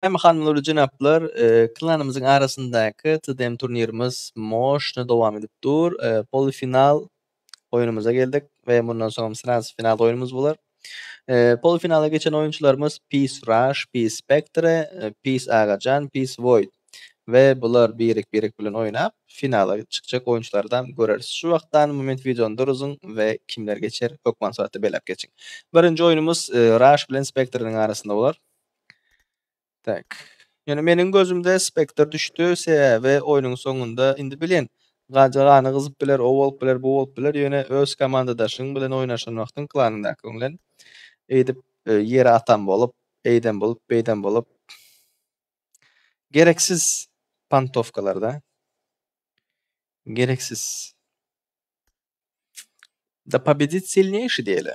Hem hanumlar jenaplar klanymyzyň arasyndaky TDM turnirimiz moşna dowam edip dur. Pol final oýnumyza geldik we mundan soňam sraz final oýnumyz bolar. Pol finala geçen oýunçylarymyz Pis Rush, Pis Spectre, Pis Agajan, Pis Void we bular birek-birek bilen oýnap finala çykjak oýunçylarydam göreris. Şu wagtdan moment wideony duruzyň we kimler geçer hökman suratda belläp geçiň. Birinji oýnumyz Rush bilen Spectre-niň arasynda bolar. Tak. Ýöne meniň gözümde spektr düşdi, sebäbi oýnuň soňunda indi bilin, gaja gany gyzyp biler, o bolup biler, bu bolup biler, ýöne öz komandadaşyň bilen oýnaşan wagtyň klanyndakyň bilen eýdip ýere atan bolup, eýden bolup, beýden bolup gereksiz pantowkalarda, gereksiz. Da pobedit silneýşi diýeli.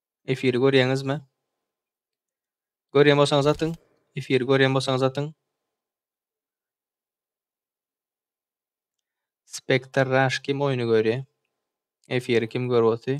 Efiri görýäňizmi? Görýän bolsaňyz atyň. Efiri görýän bolsaňyz atyň. Spectre Rush kim oýny görýär? Efiri kim görüp otyr?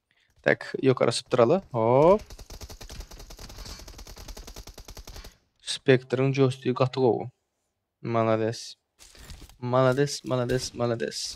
Tak ýokary asypdyraly. Hop. Spektryň joystick gaty gowy. Malades. Malades, malades, malades.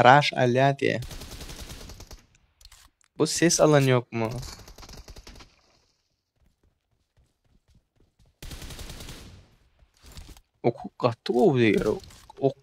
Raş alýar diýe. Bu ses alan ýokmy? Oku gaty gowy diýer. Ok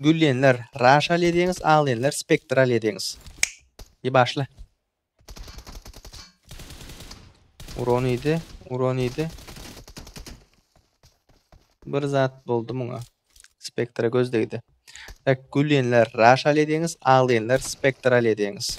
Gülýänler, raşal edýäňiz, aglaýanlar, spektral edýäňiz. Di başla. Uran idi, uran idi. Bir zat boldy muňa. Spektra göz degdi. Tak, gülýänler, raşal edýäňiz, aglaýanlar, spektral edýäňiz.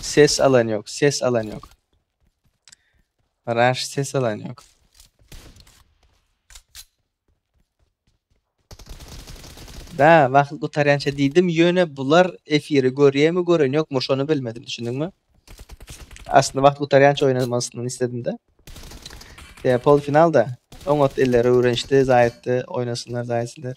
Ses alan yok, ses alan yok. Raş ses alan yok. Da, wagt gutarýança diýdim, ýöne bular efiri görýärmi, gören ýokmy, şony bilmedim, düşündiňmi? Aslynda wagt gutarýança oýnamasyny isledim-de. Ýa polfinalda oňat eller öwrenişdi, zaýatdy, oýnasynlar, zaýatsylar.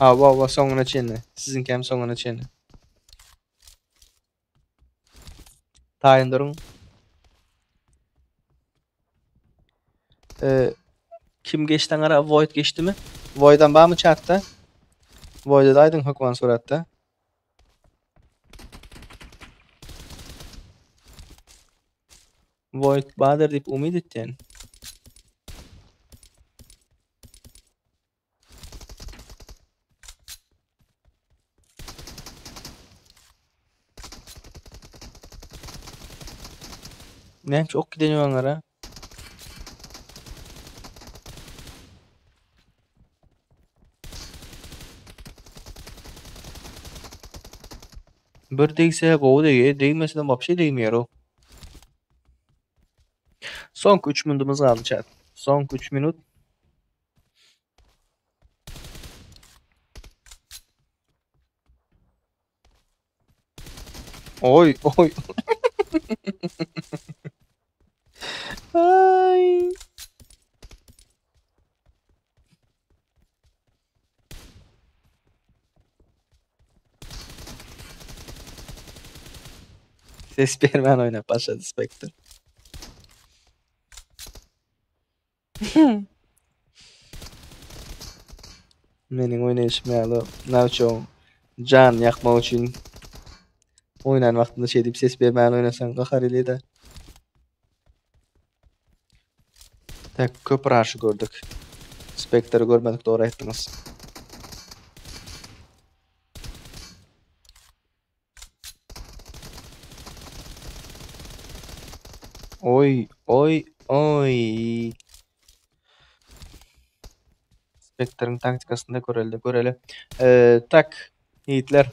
Awa awa soňuna çenli. Siziňki hem soňuna çenli. Taýyn duruň. Eee Kim geçdi aňara? Void geçdimi? Voidam barmy çatda? Voidede aýdyň hökman suratda. Void bader diýip umyt etýän. Näme şu ok giden ýolara? Bir degse gowy degýär, degmesine wapşe degmeýär o. Soňky 3 minutymyz galdy çak. Soňky 3 minut. Oy oy. Ay. Ses bermän oýnap başlady Spectre. Meniň oýnaýşym ýaly nawçoň janyny ýakmak üçin oýnan wagtynda şeýdip ses bermän oýnasaň gahar elýär-de. Tak köp raşy gördük. Spektri görmedik dogry aýtdyňyz. Oý, oý, oý! Spektriň taktikasynda görelde, görele. Eee, tak, ýigitler.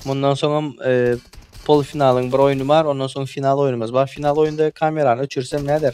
Mundan soňam eee, polfinalyň bir oýny bar, ondan soň final oýnumyz bar. Final oýunda kamerany öçürsem näder?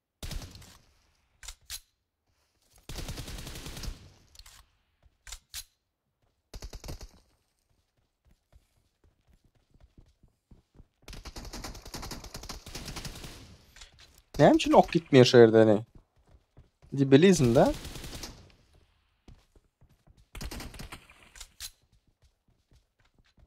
Näme üçin ok gitmeýär şu ýerde ne? Debilizmda.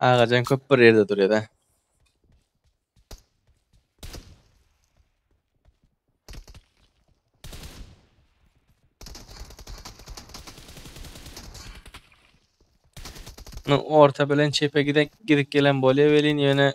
Agajan köp bir yerde duruyor da. Orta bilen çepe gidip gidip gelen bolýar welin ýöne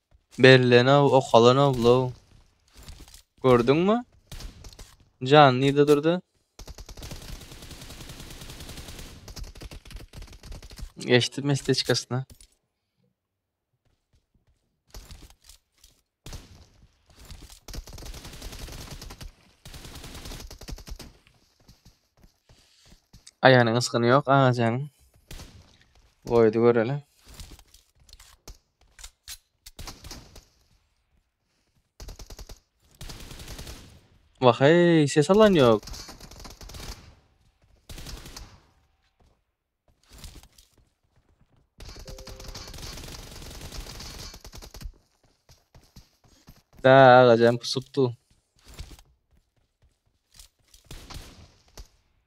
Berlenow okalanowlow gördüňmi jan nirde durdy geçdi mestečkasyna. Aýanyň ysgyny ýok agajanyň. Goýdy göreli. Wah eý, ses alan ýok. Bä agajan pusupdy.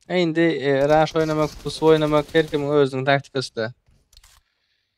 E indi e, raş oýnamak, pusup oýnamak her kimiň özüniň taktikasy-da.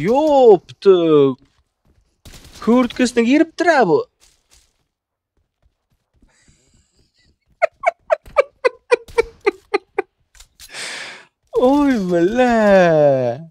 Yoptu. Kürtkesine giripdir ha bu. Oy bile.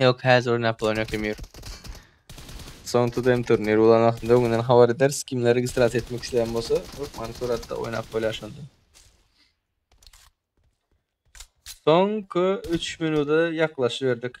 Ýok, häzir oýnap bolan ýok Emir. Soň TDM turniri bolan wagtynda öňünden habar ederis, kimler registrasiýa etmek isleýän bolsa, hökmany suratda oýnap bolýar şonda. Soňky üç minuda ýaklaşyberdik.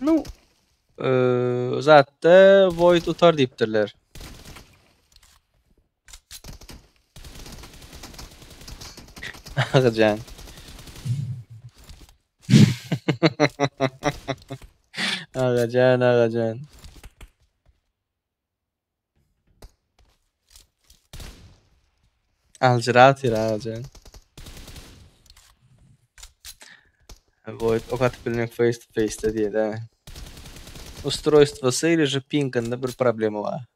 Nu eee zatda void utar diýipdirler. Agajan. Agajan, agajan. Aljyratyr agajan. Goýup ok atyp bilmek face to face de diýeli he. Ustroýstwosy ili je pinginde bir problema bar.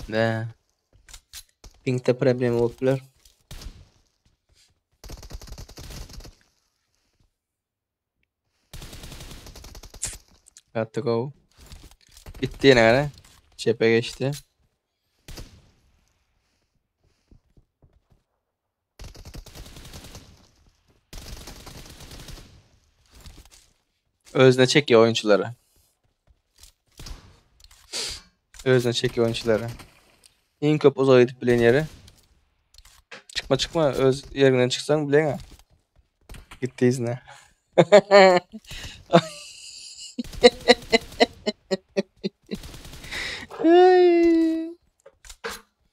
Be. Pinkte problem bolup biler. Got to go. Bitti yine gara. Çepe geçti. Özüne çekýär oýunçylary. Özüne çekýär oýunçylary. Iň köp uzak edip bilen ýeri. Çykma çykma öz ýerinden çyksaň bileňä. Gitdi izine. Ay.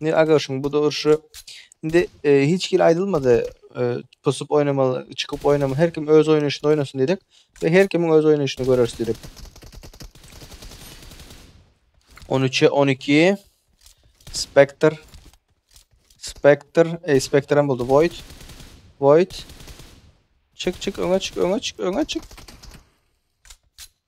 Indi aga şuň bu durşy indi e, hiç hili aýdylmady e, pusup oýnamaly, çykyp oýnamaly. Her kim öz oýnaşyny oýnasyn diýdik we her kimiň öz oýnaşyny göreris diýdik. 13-e 12 Spectre Spectre, ey Spectre hem boldy. Void. Void. Çık çık öňe çık öňe çık öňe çık.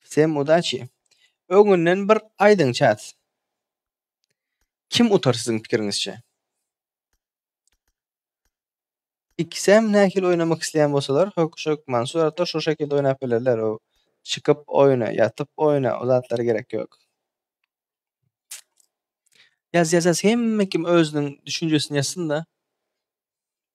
Всem udaçi. Öňünden bir aýdyň çat. Kim utar siziň pikiriňizçe? Ikisem nähili oýnamak isleýän bolsalar, hök şök Mansur ata şu şekilde oýnap bilerler. O çykyp oýna, ýatyp oýna, o zatlar gerek ýok. Ýaz ýazas hemme kim özüniň düşünjesini ýazsynda.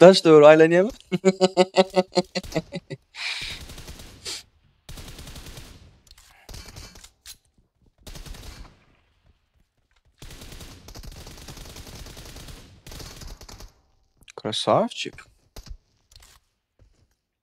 Daş döwür aýlanýamy? Krasavçik.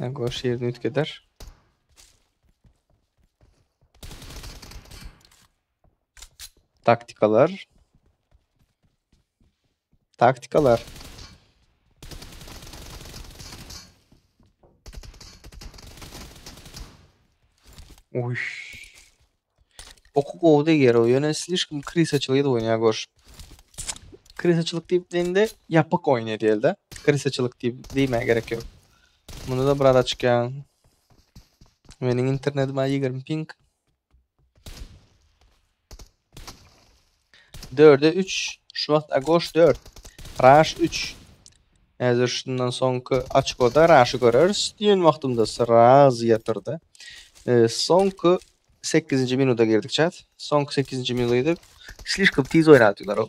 Lan koş yerini ütkeder. Taktikalar. Taktikalar. Uy. Oky gowy deger o. Ýöne slişkim krisaçylyk edip oýnaýar görüş. Krisaçylyk diýip diýende ýapyk oýun edýär-de. Krisaçylyk diýip diýmä gerek ýok. Munda da biraz açyk ýan. Meniň internetim 20 ping. Dörde üç, Şubat Agoş dört, Raş üç. Häzir şundan soňky açkoda Raşy göreris diýen wagtymda sraz ýatyrdy. E, soňky 8-nji minuta girdik çat. Soňky 8-nji minuta girdik. Slişkom tiz oýnadylar o.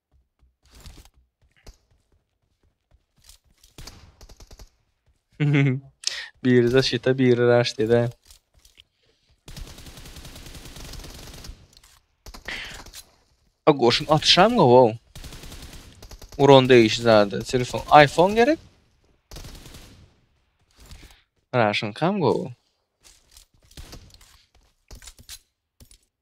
biri zaşita, biri raş dedi. A goşun atışam gow. Uron değişi zady. Telefon, iPhone gerek. Raşın kam gow.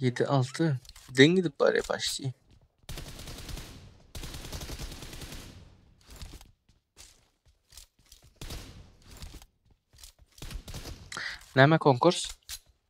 Yedi altı. Den gidip bari başlayayım. Näme konkurs?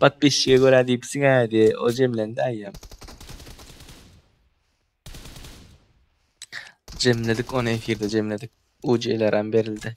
Patpisçige görä diýipsiň ädi, o jemlendi aýam. Jemledik ony efirde jemledik. UC-leram berildi.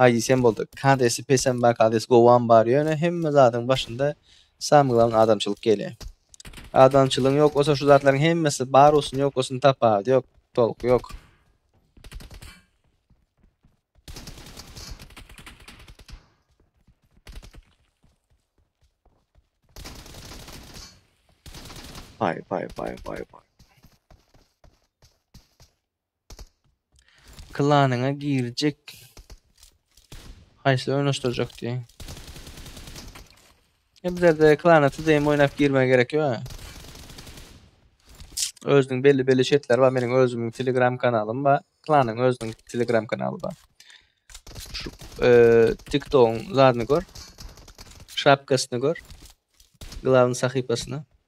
Aý diýsem boldy. Kadesi pesem bar, kades gowam bar, ýöne hemme zadyň başynda samy glan adamçylyk gelýär. Adamçylygyň ýok bolsa şu zatlaryň hemmesi bar bolsun ýok bolsun tapawudy ýok, tolky ýok. Vay vay vay vay vay. Klanyňa girjek. Haýsy oýnaşdyrjak diýen. E bizlerde klana TDM oýnap girmä gerek ýok. Özüniň belli belli şertleri bar. Meniň özümiň Telegram kanalym bar. Klanyň özüniň Telegram kanaly bar. Şu e, TikTok'un zadyny gör. Şapkasyny gör. Glavny sahypasyny.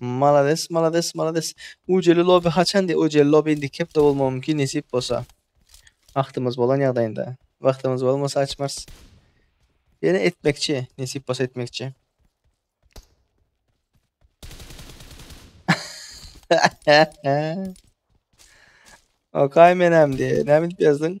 Malades malades malades. Ujeli lobi haçan diýe ujeli lobi indiki hepde bolmagy mümkin nesip bolsa. Wagtymyz bolan ýagdaýynda. Wagtymyz bolmasa açmarys. Ýene etmekçi nesip bolsa etmekçi. Okay menem diýe. Näme edip ýazdyň?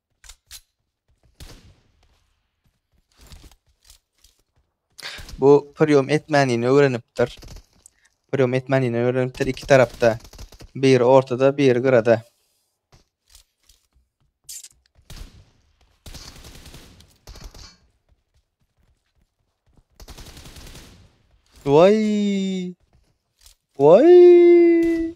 Bu priýom etmänini öwrenipdir. Priýom etmänini öwrenipdir iki tarapda. Biri ortada, biri gyrada. Vay! Vay!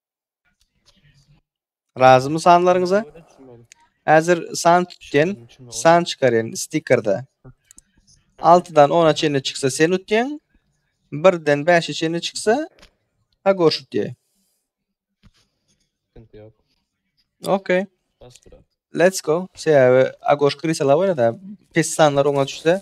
Razymy sanlaryňyza? Häzir san tutýan, san çykarýan stikerde. 6-dan 10-a çenli çyksa sen utýan, 1-den 5-e çenli çyksa Agoş utýa. Sıkıntı yok. Okey. Bas bura. Let's go. Sebäbi Agoş Krisala oýnada. Pes sanlar oňa düşse.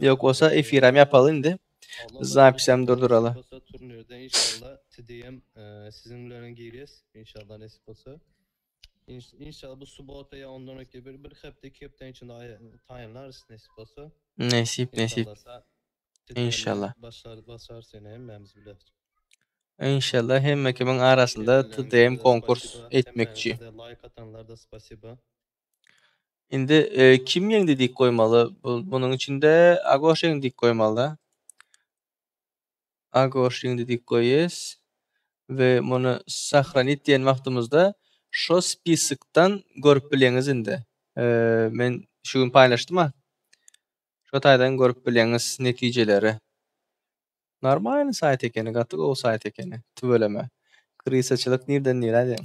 Yok olsa efiram yapalı indi. Zapis hem durduralı. Olsa turnirde inşallah TDM e, sizin bilen girýäs inşallah nesip bolsa. İn- İnşallah bu subota ya ondan öňki bir bir hepde iki hepde içinde ay- taýynlarys nesip bolsa. Nesip nesip. İnşallah sa- TDM 'den İnşallah. Başlar basar seni hemmämiz bile. İnşallah hemme kimin arasında TDM konkurs etmekçi. Hemmäňize Like atanlar da spasiba. Indi e, kim ýeňdi diýip goýmaly. Bu, munuň içinde Agoş ýeňdi diýip goýmaly-da. Agoş ýeňdi diýip goýýas. We muny sahranit diýen wagtymyzda şo spiskdan görüp bilýäňiz indi. E, men şu gün paýlaşdym-a. Şo taýdan görüp bilýäňiz netijeleri. Normalny saýt ekeni, gaty gowy saýt ekeni. Tüweleme. Krisaçylyk nirden nirä diýen.